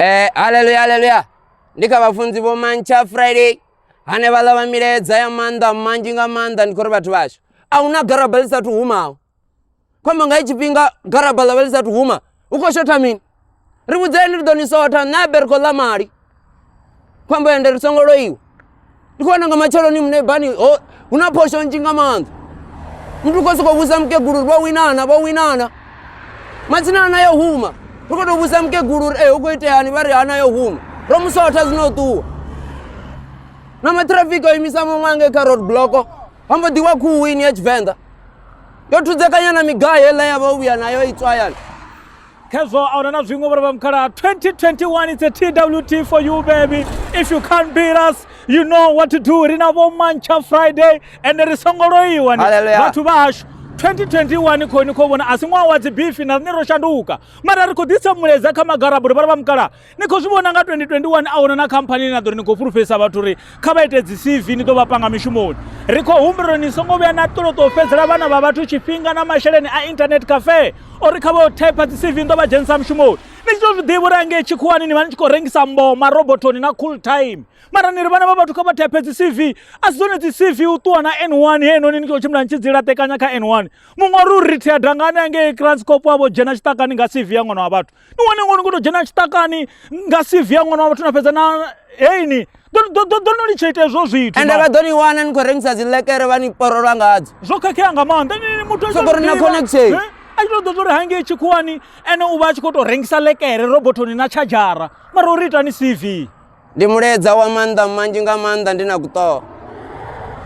Eh, haleluya haleluya ndi kha vhafunzi vho mantsha friday hanevhaḽa vha milaedza ya maanḓa manzhi nga maanḓa ndi khou ri vhathu vhashu a hu na garaba ḽi sathu humaho khombo nga i tshifhinga garaba ḽa vha ḽi sathu huma hu khou shotha mini ri vhudzeni ri ḓo ni sotha nṋe abergo ḽa mali khombo ende ri songo loiwa ndi khou vhona nga matsheloni mune bani ho hu na phosho nzhi nga maanḓa muthu u khou sokou vhusa mukegulu uri vho winana vho winana matsina ana yo huma ri khou tou vhusa mukegulu uri e hu khou iteani vha ri ana yo huma ro musotha zwino ṱuwa na matrafiki o imisa mamange kha road bloko ha mbo ḓiwa khuwini ya tshivenḓa yo thudzekanya na migayo heiḽa ya vha u vhuya nayo itswayana khezwo a huna na zwiṅwe vhore vha mukhala 2021 it's a twt for you baby if you can't beat us you know what to do ri na vho mancha friday and ri songo loiwa ni Hallelujah. vhathu vha hashu 2021 khoni khou vhona a si ṅwaha wa dzibifi na riṋe ro shanduka mara ri khou ḓisa muleza kha magaraburi vhare vha mukala ni khou zwi vhona nga 2021 a huna na khamphani ine na ḓo ri ni khou fhulufhedzisa vhathu uri kha vha ite dzi cv ni ḓo vha panga mishumoni ri khou humbula uri ni songo vhuya na ṱoloṱo fhedzela vhana vha vhathu tshifhinga na masheleni a internet cafe uri kha vha type dzi cv ni ḓo vha dzhenisa mishumoni ni tshi tou zwi ḓivha uri angei tshikhuwani ni vha ni tshi khou rengisa mboma robotoni na cool time mara ni ri vhana vha vhathu kha vha type dzi cv a si dzone dzi cv u ṱuwa na n one he noni ni khou tshimbila ni tshi dzi laṱekanya kha n one muṅwe uri u rithiya dangani angei kranscop wavho dzhena tshiṱakani nga cv ya ṅwana wa vhathu ni wane ngoni kuto dzhena tshiṱakani nga CV ya ṅwana wa vhathu na fhedza na heini ḓo no litsha ita hezwo zwithu ende vha ḓo ni wana ni khou rengisa dzilekere vha ni porolwa ngadzo zwo khakhea nga maanḓa ni muthu sokori na connection eh? a tshi to ḓo tori hangei tshikhuwani ene u vha a tshi khou tou rengisa lekere robothoni na tshadzhara mara uri itani CV ndi muledza wa maanḓa manzhi nga maanḓa ndi na kuṱoho